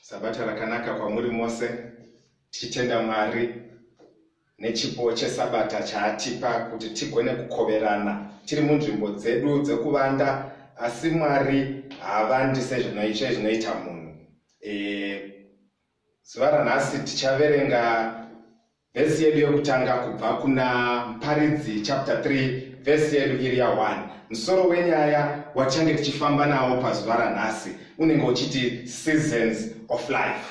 sabata rakanaka kwamuri mose tichitenda mwari nechipo chesabata chaatipa kuti tigone kukoverana tiri munzvimbo dzedu dzekuvanda asi mwari haavandi sezvinoitwe zvinoita munhu e, zuva ranhasi tichaverenga Vhesi yedu yokutanga kubva kuna Mparidzi chapter 3 vhesi yedu iri ya 1. Musoro wenyaya wachange tichifamba nawo pazuva ranhasi unenge uchiti seasons of life.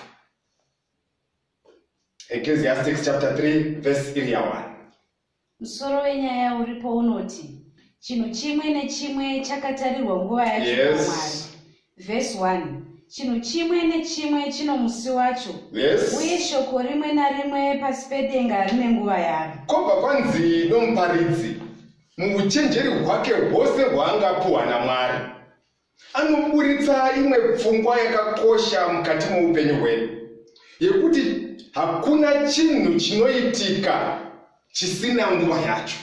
Ecclesiastics chapter 3 vhesi iri ya 1. Musoro wenyaya uripo unoti chinhu chimwe nechimwe chakatarirwa nguva yacho yes. Mwari. Verse 1 chinhu chimwe nechimwe chino musi wacho yes. uye shoko rimwe narimwe pasi pedenga rine nguva yaro. Kobva kwanzi nomuparidzi muuchenjeri hwake hwose hwaangapuhwa naMwari anoburitsa imwe pfungwa yakakosha mukati moupenyu hwedu yekuti hakuna chinhu chinoitika chisina nguva yacho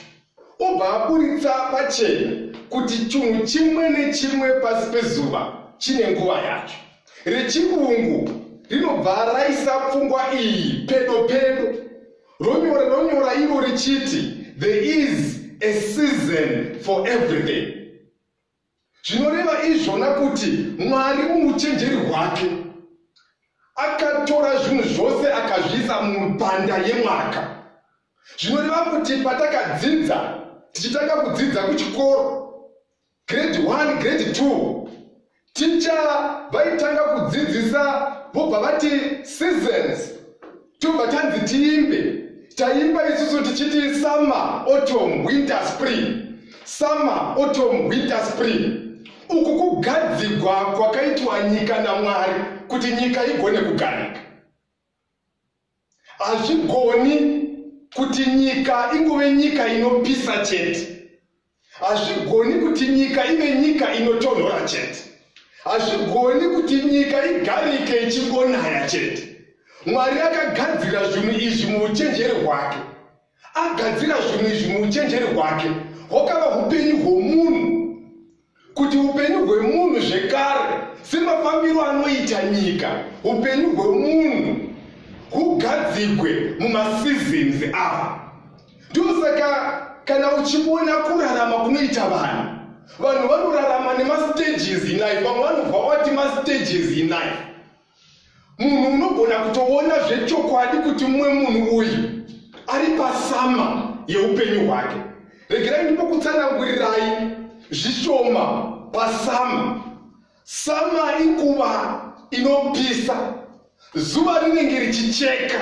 obva aburitsa pachena kuti chinhu chimwe nechimwe pasi pezuva chine nguva yacho rechirungu rinobva raisa pfungwa iyi pedo pedo ronyora ronyora iro richiti there is a season for everything zvinoreva izvona kuti mwari muuchenjeri hwake akatora zvinhu zvose akazviisa mubanda yemwaka zvinoreva kuti patakadzidza tichitanga kudzidza kuchikoro grade 1 grade 2 ticha vaitanga kudzidzisa vobva vati seasons tobva tanzi tiimbe taimba isusu tichiti summer autumn winter spring summer autumn winter spring uku kugadzigwa kwakaitwa nyika namwari kuti nyika igone kugarika hazvigoni kuti nyika ingove nyika inopisa chete hazvigoni kuti nyika ive nyika inotonhora chete hazvigoni kuti nyika igarike ichingonaya chete mwari akagadzira zvinhu izvi muuchenjeri hwake agadzira zvinhu izvi muuchenjeri hwake hwakava upenyu hwomunhu kuti upenyu hwemunhu zvekare semafambiro anoita nyika upenyu hwemunhu hugadzigwe mumasizins ava ndosaka kana uchiona kurarama kunoita vanhu vanhu vanorarama nemastages inife vamwe vanobva vati mastages inife munhu unogona kutoona zvechokwadi kuti mumwe munhu uyu ari pasama yeupenyu hwake regerai ndimokutsanangurirai zvishoma pasama sama ikuva inopisa zuva rinenge richicheka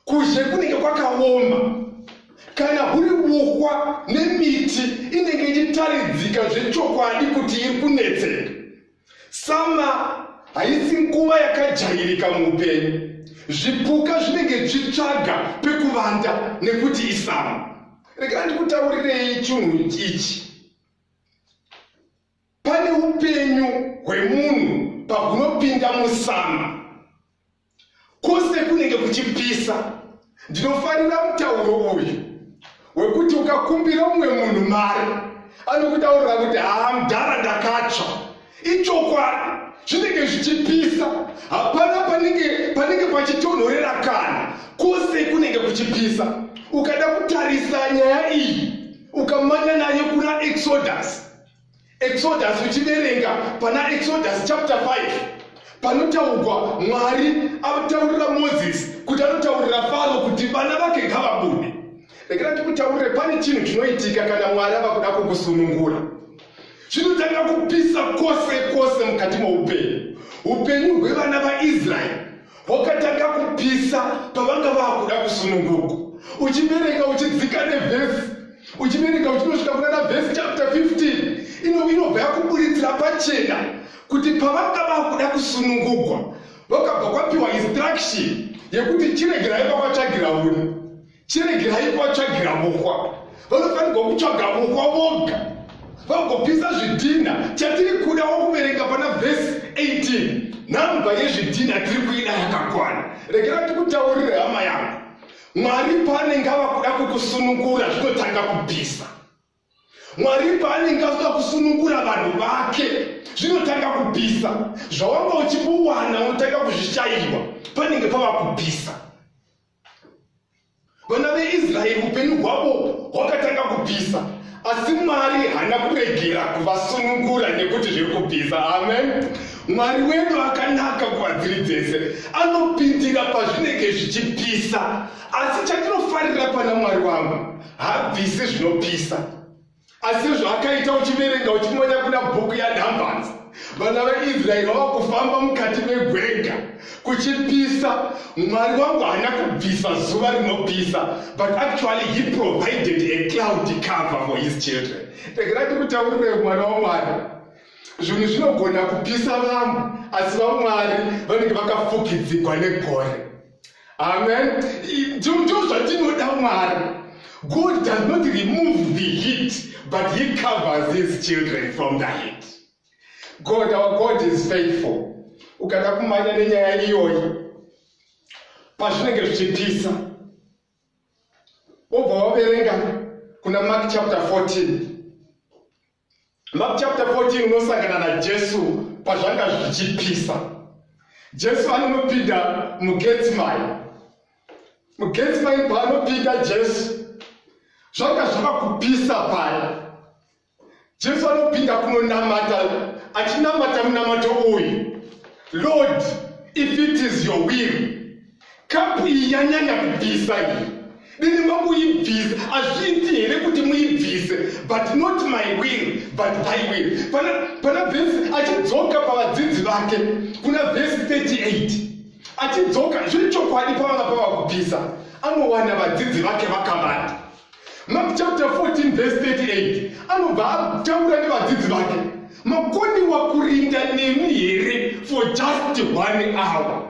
kuzhe kunenge kwakaoma kana huri buhwa nemiti inenge ichitaridzika zvechokwadi kuti iri kunetseka sama haisi nguva yakajairika muupenyu zvipuka zvinenge zvitsvaga pekuvanda nekuti isama regai ndikutaurirei chinhu ichi pane upenyu hwemunhu pahunopinda musama Kwose kunenge kuchipisa. Ndinofarira mutauro uyu wekuti ukakumbira umwe munhu mari anokutaurira kuti haa mdhara ndakatsva. Ichokwadi zvinenge zvichipisa. Hapana panenge panenge pachitonhorera kana kwose kunenge kuchipisa. Ukada kutarisa nyaya iyi ukamanya nayo kuna Exodus exodus uchiverenga pana exodus chapter 5 panotaurwa mwari ataurira moses kuti anotaurira faro kuti vana vake ngavabude rekera tikutaurire pane chinhu chinoitika kana mwari ava kuda kukusunungura chinotanga kupisa kwose kwose mukati moupenyu upenyu hwevana vaisraeri hwakatanga kupisa pavanga vakuda kusununguka uchibereka uchidzika nevhesi uchibereka uchinosvika kunana vhesi chapter 15 ino inobva yakuburitsira pachena kuti pavanga vakuda kusunungugwa vakabva kwapiwa instruction yekuti chiregerai vakwatsvagira uri chiregerai kuvatsvagira vokwa vanofanirwa kutsvaga vokwa voga vagopisa zvidhinha chatiri kuda wokuverenga pana vhesi 18 nhamba yezvidhinha tiri kuida yakakwana regera tikutaurire hama yangu mwari paanenge ava kuda kukusunungura zvinotanga kupisa mwari paanenge azoda kusunungura vanhu vake zvinotanga kupisa zvawanga uchibuwana unotanga kuzvishayirwa panenge pava kupisa vana veisraeri upenyu hwavo hwakatanga kubvisa asi mwari haana kuregera kuvasunungura nekuti zviri kubvisa amen mwari wedu akanaka kuvadziri dzese anopindira pazvinenge zvichipisa asi chatinofarira pana mwari wangu habvisi zvinopisa asi sezvaakaita uchiverenga uchimonya kuna bhuku yanumbers vana vaisraeri vava kufamba mukati megwenga kuchipisa mwari wangu haana kubvisa zuva rinopisa but actually he provided a cloud cover for his children tegera tikutaurire mwana wamwari zvinhu zvinogona kupisa vamwe asi vamwari vanenge vakafukidzigwa negore amen ndo zvatinoda mwari god does not remove the heat but he covers his children from the heat god our god is faithful ukada kumanya nenyaya iyoyi pazvinenge zvichipisa wobva waverenga kuna mark chapter 14 Mark chapter 14 unosangana naJesu pazvanga zvichipisa. Jesu anonopinda muGetsemane. MuGetsemane paanopinda Jesu zvanga zvava kupisa paya. Jesu anopinda kunonamata achinamata munamato uyu. Lord, if it is your will, Kapu iyi yanyanya kubvisa iyi. Dini makuibvisa azviiti here kuti muibvise but not my will but thy will. Pana pana vhesi achidzoka pavadzidzi vake kuna vhesi 38 achidzoka zviri chokwadi pavanga pava kubvisa anowana vadzidzi vake vakavanda. Mark chapter 14 vhesi 38 anobva ataura nevadzidzi vake makoniwa kurinda nemi here for just one hour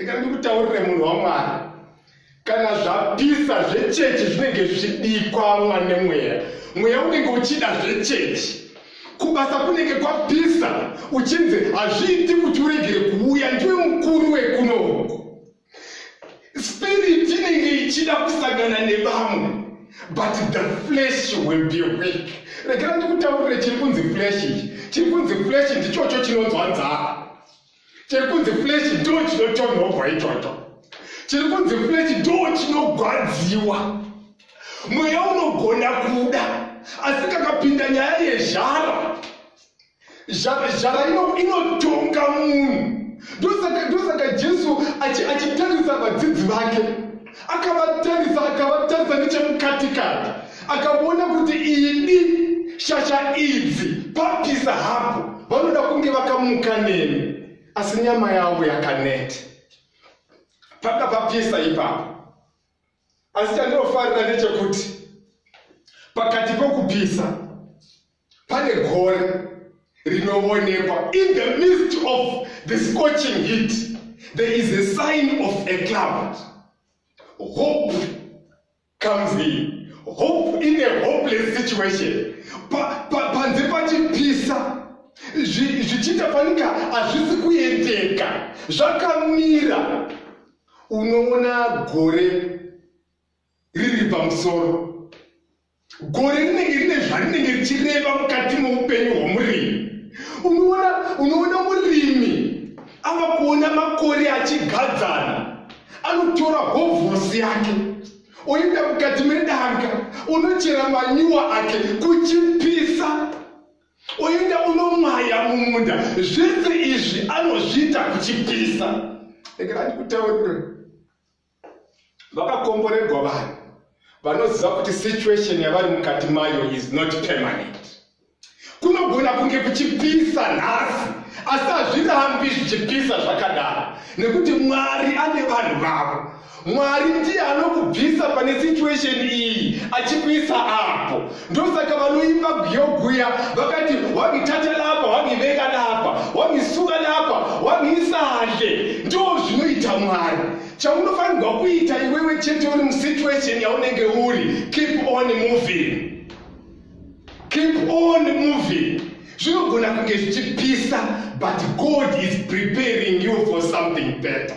rega ndikutaurire munhu wamwari kana zvapisa zvechechi zvinenge zvichidikwamwa nemweya mweya unenge uchida zvechechi kubasa kunenge kwapisa uchinzi hazviiti kuti uregere kuuya ndiwe mukuru wekunoku spiriti inenge ichida kusangana nevamwe but the flesh will be weak rekera ndikutaurire chiri kunzi flesh ichi chiri kunzi flesh ndichocho chinonzwa nzara chiri kunzi flesh ndo chinotonhogwa ichocho chiri kunzi flesh ndo chinogwadziwa mweya unogona kuda asi kakapinda nyaya yezhara zhara inotonga munhu ndosaka jesu achitarisa vadzidzi vake akavatarisa akavatarisa nechemukatikati akaona kuti idi shasha idzi papisa hapo vanoda kunge vakamuka neni asi nyama yavo yakanete panga papisa ipapo asi chandinofarira ndechekuti pakati pokupisa pane gore rinoonekwa in the midst of the scorching heat there is a sign of a cloud hope comes in hope in a hopeless situation panze pachipisa zvichiita fanika hazvisi kuendeka zvakamira unoona gore riri pamusoro gore rinenge rine zvarinenge richireva mukati moupenyu hwomurimi unoona unoona murimi ava kuona makore achigadzana anotora hovhosi yake oenda mukati medanga unochera manyuwa ake kuchipisa oenda unomwaya mumunda zvese izvi anozviita kuchipisa ekerandikutaurire vakakomborerwa vanhu vanoziva kuti situation yavari mukati mayo is not permanent kunogona kunge kuchipisa nhasi asi hazvirambi zvichipisa zvakadaro nekuti mwari ane vanhu vavo mwari ndiye anokubvisa pane situation iyi achikuisa apo ndosaka vanoimba guyo guya vakati wangithatha lapha wangibeka lapha wangisuka lapha wangiisahle ndo zvinoita mwari chaunofanirwa kuita iwewe chete uri musituation yaunenge uri keep on moving keep on moving zvinogona kunge zvichipisa but god is preparing you for something better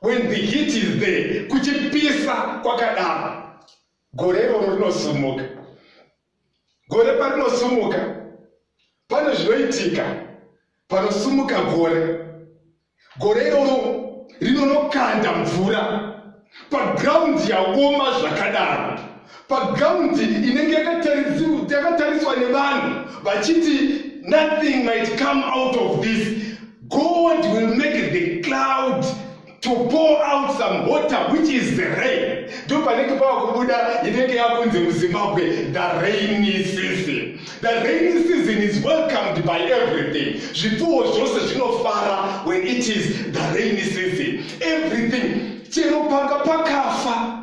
when the heat is there kuchipisa kwakadaro gore iroro rinosumuka gore parinosumuka pane zvinoitika panosumuka gore gore iroro rinonokanda mvura pagraundi yaoma zvakadaro pagaundi inenge yakatariswa nevanhu vachiti nothing might come out of this god will make the cloud to pour out some water which is the rain ndo panenge pava kubuda inenge yakunzi muzimbabwe the rainy season the rainy season is welcomed by everything zvipfuwo zvose zvinofara when it is the rainy season everything chero panga pakafa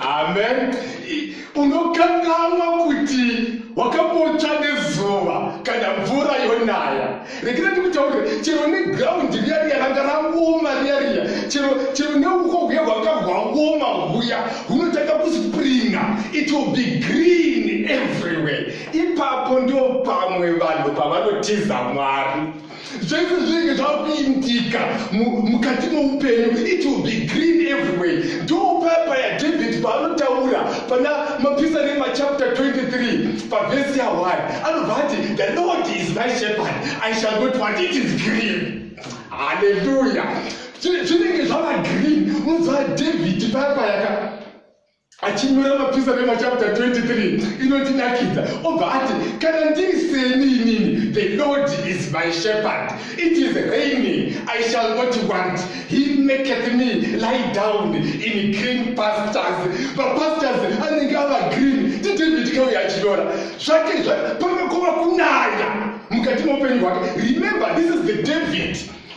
Amen. Unokanganwa kuti wakambotsva nezuva kana mvura yonaya. Rekera ndikutaurire chero neground riya riya ranga raoma riya riya chero chero neuko huya hwanga hwaoma huya hunotanga kuspringa it will be green everywhere. Ipapo ndio pamwe vanhu pavanotiza Mwari. zvese zvinenge zvakupindika mukati moupenyu it will be green everyway ndo papa yadavid paanotaura pana mapisa nemachapter 23 pavhesi yawari anobva ati the lord is my shepherd i shall not want it is green haleluya zvinenge zvava green unonzwa david paya payaka achinyora mapisa mema chapter 23 inotidakidza obva ati kana ndiri seni inini the lord is my shepherd it is raining i shall not want he maketh me lie down in green pastures mapastures anenge ava green tidavid kauya achinyora zvake pamekuva kunaya mukati meupenyu hwake remember this is the david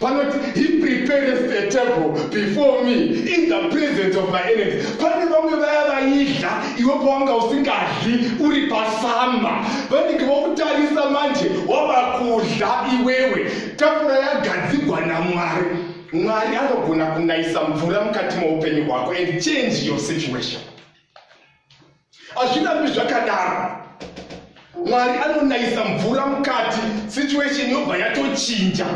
panoti he prepares the table before me in the presence of my enemies pane vamwe vaya vaidya iwe pawanga usingadyi uri pasamba vanenge vakutarisa manje wava kudya iwewe tafura yagadzigwa namwari mwari anogona kunayisa mvura mukati moupenyu hwako and change your situation hazvirambi zvakadaro mwari anonayisa mvura mukati situation yobva yatochinja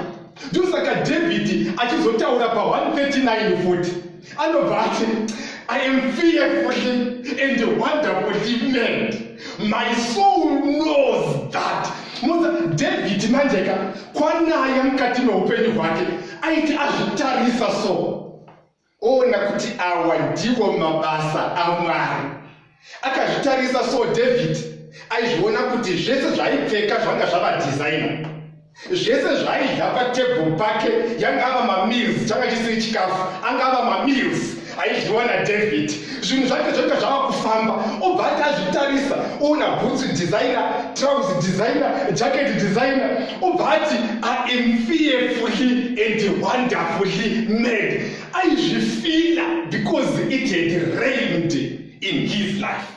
ndosaka dhavhidhi achizotaura pa 139 futi anobva ati i am fearfully and wonderfully mad my soul knows that muza dhavhidhi manjeka kwanaya mukati meupenyu hwake aiti azvitarisa so oona kuti awa ndiwo mabasa amwari akazvitarisa so david aizviona kuti zvese zvaipfeka zvanga zvava designer zvese zvaidya patebhuru pake yanga ava mamills changa chisiri chikafu anga ava mamills aidyiwa nadavid zvinhu zvake zvoita zvava kufamba obva ati azvitarisa oona bhutsu designer trouse designer jacket designer obva ati iam fearfully and wonderfully mad aizvifila because it had rained in his life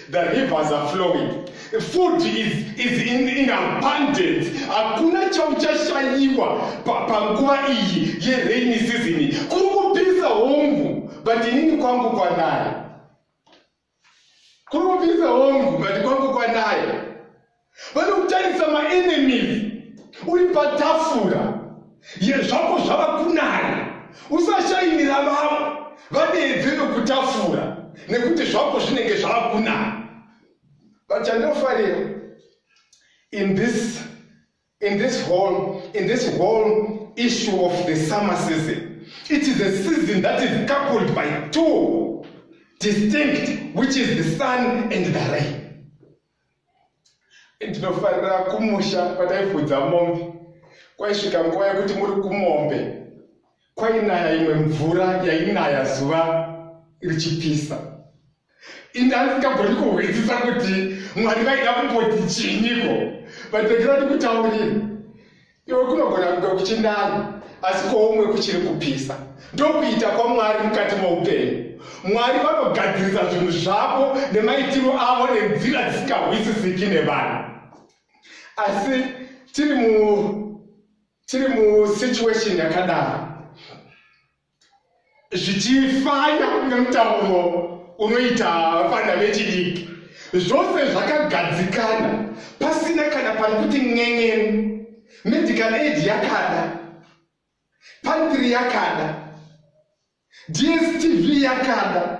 The rivers are flowing. Food is, is in, in abundance. Hakuna chauchashayiwa panguva iyi yerainy season. Kuri kupisa hongu, but inini kwangu kwanaye. Kuri kupisa hongu, but kwangu kwanaye. vanokutarisa maenemies uri patafura yezvako zvava kunaya usashainira vamwe vadeedze nokutafura nekuti zvako zvinenge zvava kunaya but chandinofarira in this in this whole in this whole issue of the summer season it is a season that is coupled by two distinct which is the sun and the rain ndinofarira kumusha kwataifudza mombe kwaisvika nguva yekuti muri kumombe kwainaya imwe mvura yainaya zuva richipisa indasingagoni kuhwisisa kuti mwari vaida kumboti chinyiko vatekera tikutaurira iwe kunogona kunge kuchinani asi kwoumwe kuchiri kupisa ndokuita kwamwari mukati moupenyu mwari vanogadzirisa zvinhu zvavo nemaitiro avo nenzira dzisingahwisisiki nevanhu asi tiri mu tiri musituation yakadaro zvichifana nemutauro unoita vana vechidiki zvose zvakagadzikana pasina kana pari kuti n'en'eni medical aid yakada pantry yakada dstv yakada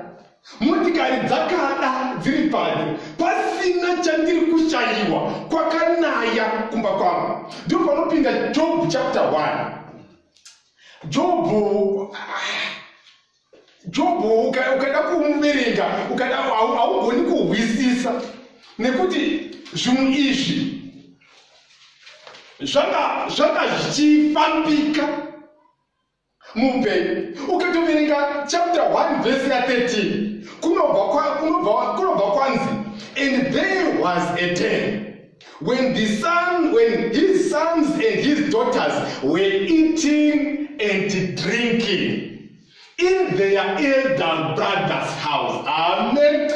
motikari dzakada dziri pano pasina chandiri kushayiwa kwakanaya kumba kwavo ndopanopinda job chapter 1 jobho jobho ukada kumuverenga ukada haugoni kuhwisisa nekuti zvinhu izvi zvanga zvanga zvichifambika muupenyu ukatoverenga chapter 1 vhesi ya 13 kunobva kwanzi and there was a ten When the son, when his sons and his daughters were eating and drinking in their elder brother's house. Amen.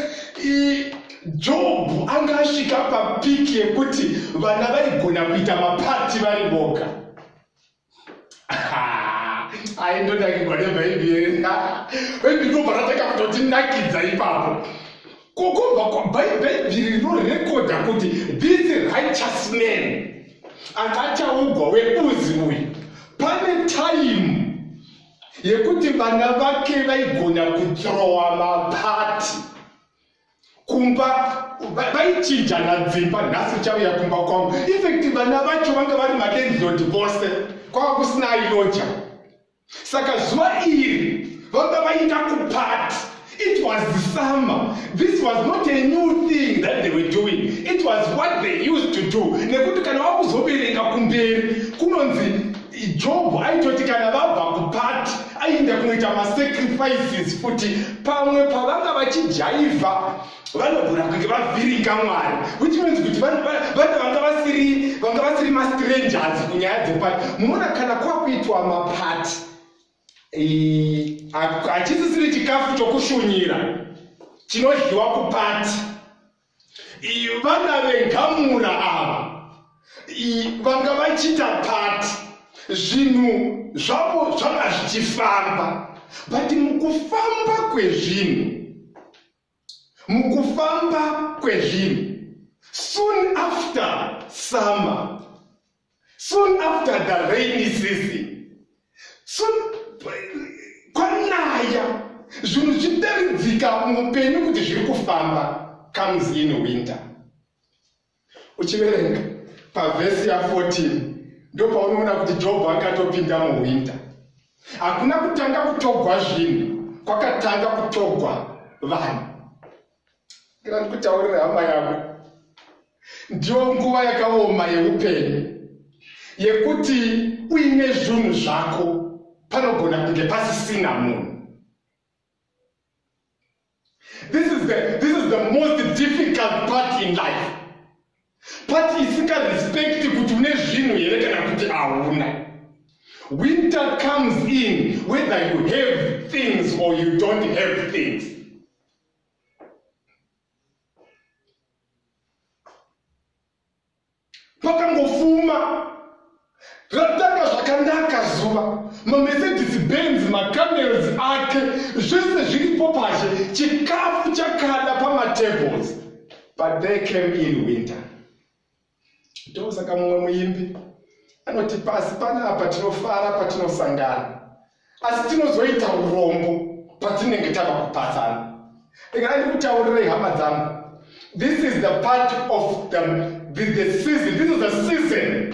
Job anga asvika papiki yekuti vana vaigona kuita mapati vari voga. aindonakigwa nebhaibheri bhaibheri ndobva ratanga kutotinakidza ipapo kokobva kwabhaibheri rinorekodha kuti this righteous man anga achaugwa weuzi uyu pane taimu yekuti vana vake vaigona kutrowa mapati kumba vaichinjana dzimba nhasi uchauya kumba kwangu effect vana vacho vanga vari malandlord vose kwava kusina ailoja saka zuva iri vanga vaita kupati it was the summer this was not a new thing that they were doing it was what they used to do nekuti kana wakuzobereka kumberi kunonzi jobho aitoti kana vabva kupati aienda kunoita masacrifices futi pamwe pavanga vachijaivha vanogona kunge vavhiringa mwari which means kuti vanhu vanga vasiri vanga vasiri mastrangers kunyaya dzepati munoona kana kwakuitwa mapati hachisisiri chikafu chokushunyira chinodyiwa kupati vana vengamura ava vanga vachita pati zvinhu zvavo zvanga zvichifamba but mukufamba kwezvinhu mukufamba kwezvinhu soon after summer Soon after the rainy season, soon kwanaya zvinhu zvichidaridzika muupenyu kuti zviri kufamba comes in winter. Uchiverenga pavhesi ya14 ndopaunoona kuti Jobho akatopinda muwinter. Hakuna kutanga kutogwa zvinhu, kwakatanga kutogwa vanhu. kana ndikutaurira hama yako ndiyo nguva yakaoma yeupenyu yekuti uine zvunhu zvako panogona kunge pasisina munhu this is the, this is the most difficult part in life part isikarespecti kuti une zvinhu here kana kuti hauna winter comes in whether you have things or you don't have things pakangofuma ratanga zvakanaka zuva mamercedes benz macamerons ake zvese zviripo pashe chikafu chakada pamatables but they came in winter ndosaka mumwe muimbi anoti pasi panapa tinofara patinosangana asi tinozoita urombo patinenge tava kupatsana ndingaa ndikutaurirei hama dzangu this is the part of the, the, the season this is the season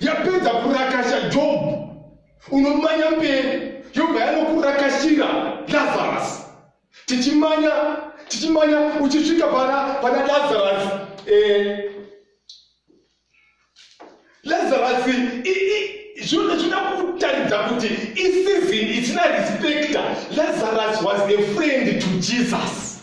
yapedza kurakasha jobhu unomanya mberi yobva yanokurakashira lazarasi tichimanya tichimanya uchisvika pana pana lazarasi eh, lazarasi zvinoda kutaridza kuti isizini isina respecta lazarus was a friend to jesus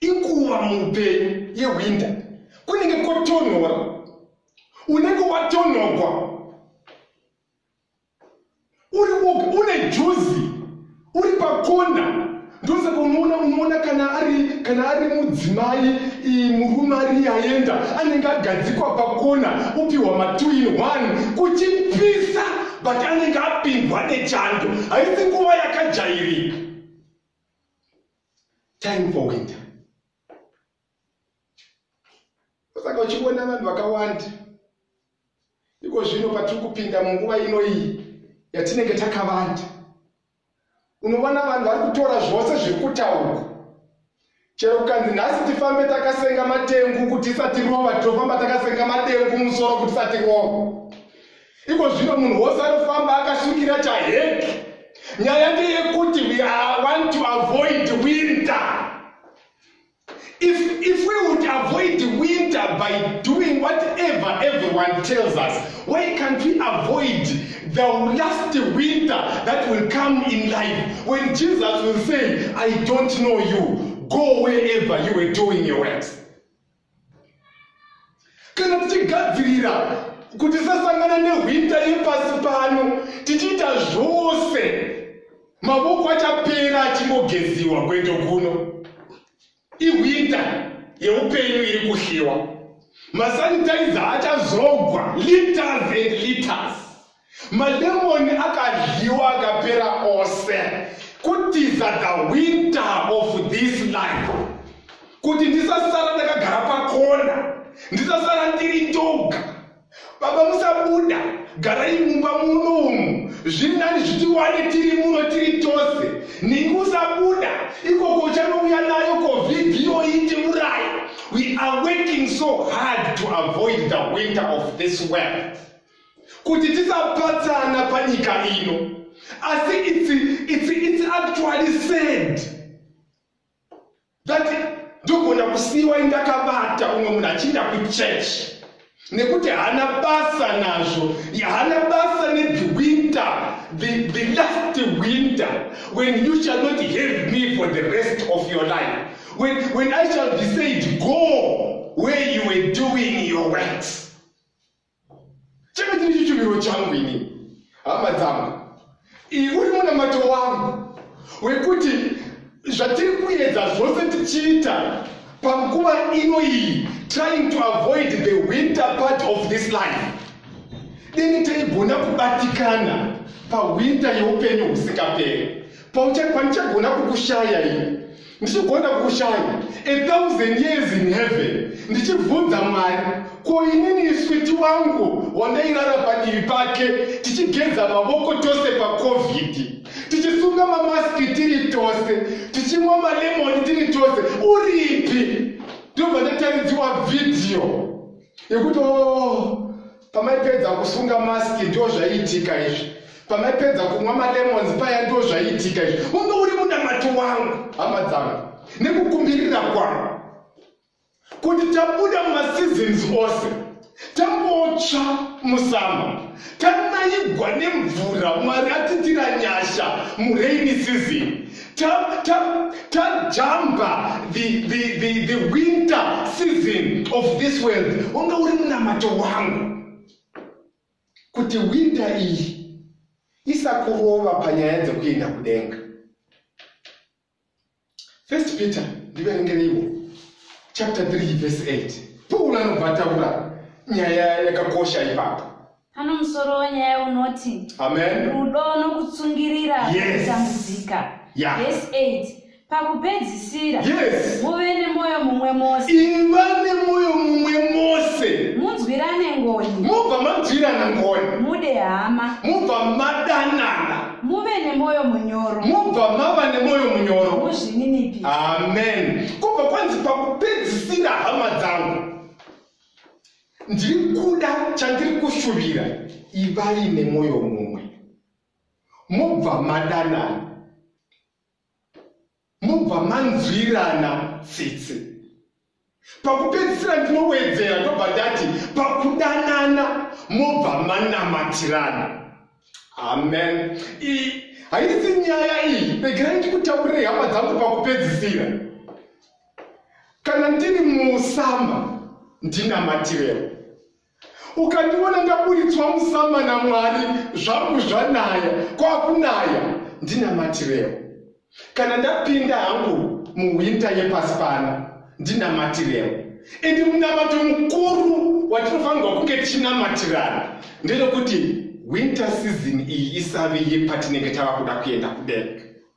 inguva muupenyu yewinda kunenge kotonhora unenge watonhogwa uri woga une juzi uri pakona ndosaka unoona unoona kana ari kana ari mudzimai murume ariye aenda anenge agadzikwa pakona upiwa matwo in one kuchipisa but anenge apindwa nechando haisi nguva yakajairika time for winter saka uchiona vanhu vakawanda iko zvino patiri kupinda munguva ino iyi yatinenge takavanda unoona vanhu vari kutora zvose zviri kutaurwa chero kukanzi nhasi tifambe takasenga matengu kuti isati rova tinofamba takasenga matengu musoro kuti isati rova Iko zvino munhu wose anofamba akasungirira chahegi. Nyaya ndeyekuti we are want to avoid winter. If, if we would avoid winter by doing whatever everyone tells us, why can't we avoid the last winter that will come in life when Jesus will say, I don't know you, go wherever you were doing your works? kana tichigadzirira kuti tisasangana nehwinda yepasi pano tichiita zvose mavoko achapera achingogeziwa kweto kuno ihwinda yeupenyu iri kuhliwa masanitaiza achazogwa liters and liters mademoni akadyiwa akapera ose kutiza the winter of this life kuti ndisasara ndakagara pakona ndisasara ndiri ndoga baba musabuda garai mumba muno umu zvinani zviti wani tiri muno tiri tose ningi usabuda ikoko uchanouya nayo covid inoiti murai we are working so hard to avoid the winter of this world kuti tisapatsana panyika ino asi it's, it's, it's actually sad that ndogona kusiiwa indakabata umwe munhu achiinda kuchurch nekuti haana basa nazvo haana basa nethe winter the, the last winter when you shall not have me for the rest of your life when, when i shall be said go where you were doing your works changa chiri chichuviro changu ini hama dzangu uri munamato wangu wekuti zvatiri kuedza zvose tichiita panguva ino iyi trying to avoid the winter part of this life deni taigona kubatikana pawinta yeupenyu husingaperi pauchakwanishagona kukushaya ini ndichigona kushaya a thousand years in heaven ndichibvunza mwari ko inini iswiti wangu wandairara padivi pake tichigeza mavoko tose pacovid tichisunga mamaski tiri tose tichimwa malemoni tiri tose uripi ndobva ndataridziwa vhidhiyo yekuti o oh, pamaipedza kusunga mask ndiwo zvaiitika izvi pamaipedza kunwa malemons paya ndiwo zvaiitika izvi unge uri munamato wangu hama dzangu nekukumbirira kwangu kuti tabuda mumaseasons ose tambotsva musamba tanaigwa nemvura mwari atitira nyasha muraini season Tap, tap, tap, jamba the, the, the, the winter season of this world wanga uri munamato wangu kuti winter iyi isakurova panyaya dzekuenda kudenga first peter ndiverengereiwo chapter 3 verse 8 paul anobva ataura nyaya yakakosha ipapo Pano musoro wenyaya unoti Amen. rudo nokutsungirira Yes. kutambudzika. Yeah. Verse 8. Pakupedzisira, Yes. muve nemwoyo mumwe mose, Iva nemwoyo mumwe mose. munzwirane ngoni, Mubva manzwirana ngoni. mude hama, Mubva madanana. muve nemwoyo munyoro, Mubva mava nemwoyo munyoro. muzvininipise. Amen. Kubva kwanzi pakupedzisira hama dzangu. ndiri kuda chandiri kushuvira ivai nemwoyo mumwe mobva madanana mobva manzwirana tsitsi pakupedzisira ndinowedzera ndobva ndati pakudanana mobva manamatirana amen haisi nyaya iyi regerai ndikutaurire hama dzangu pakupedzisira kana ndiri musama ndinamatirewo ukandiona ndaburitswa musama namwari zvangu zvanaya kwakunaya ndinamatirewo kana ndapinda hangu muwinta yepasi pano ndinamatirewo ende munamato mukuru watinofanirwa kunge tichinamatirana ndezvekuti winter season iyi isave yepatinenge tava kuda kuenda kudenga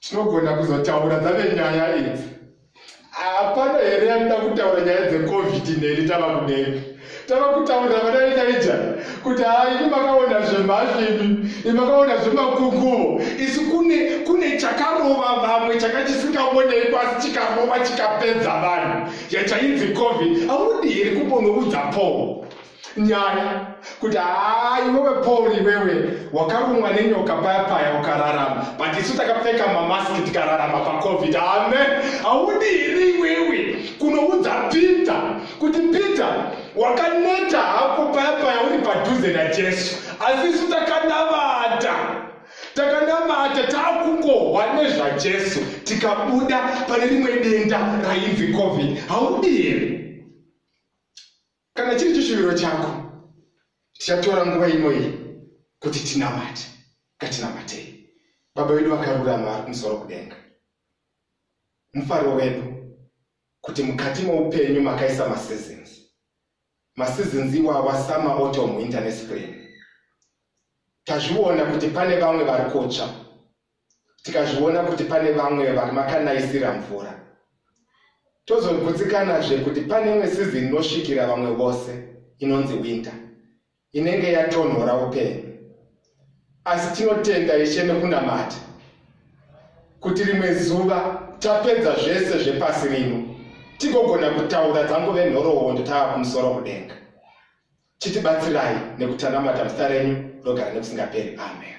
tinogona kuzotaura dzave nyaya idzi hapana here yatida kutaura nyaya dzecovid neni tava kudenga tava kutaurira vana venaija kuti haa ini makaona zvemhazvi imi imakaona zvemakunguvo isi kune kune chakarova vamwe changa chisingaonei kwasi chikarova chikapedza vanhu yachainzi covid audi here kumbonoudza poo nyaya kuti haa iwewe paul iwewe wakarumwa nenyoka paya paya ukararama but isu takapfeka mamaski tikararama pacovid amen haudi here iwewe kunoudza peter kuti peter wakaneta hako paya paya uri padhuze najesu asi isu takanavata takanamata takungohwa nezvajesu tikabuda pane rimwe denda rainzi covid haudi here Kana chiri chishuviro chako, tichatora nguva inoyi kuti tinamate. Ngatinamatei. Baba vedu vakarurama vari kumusoro kudenga, mufaro wedu kuti mukati moupenyu makaisa maseasons. Maseasons iwawa summer, autumn, winter nespring. Tazviona kuti pane vamwe vari kutsva tikazviona kuti pane vamwe vari makanaisira mvura tozogutsikanazve kuti pane imwe sizini inosvikira vamwe vose inonzi winter inenge yatonhora upenyu asi tinotenda ishe nekunamata kuti rimwe zuva tapedza zvese zvepasi rino tigogona kutaura dzangove nhoroondo tava kumusoro kudenga chitibatsirai nekutanamata muzita renyu rogara nekusingaperi amen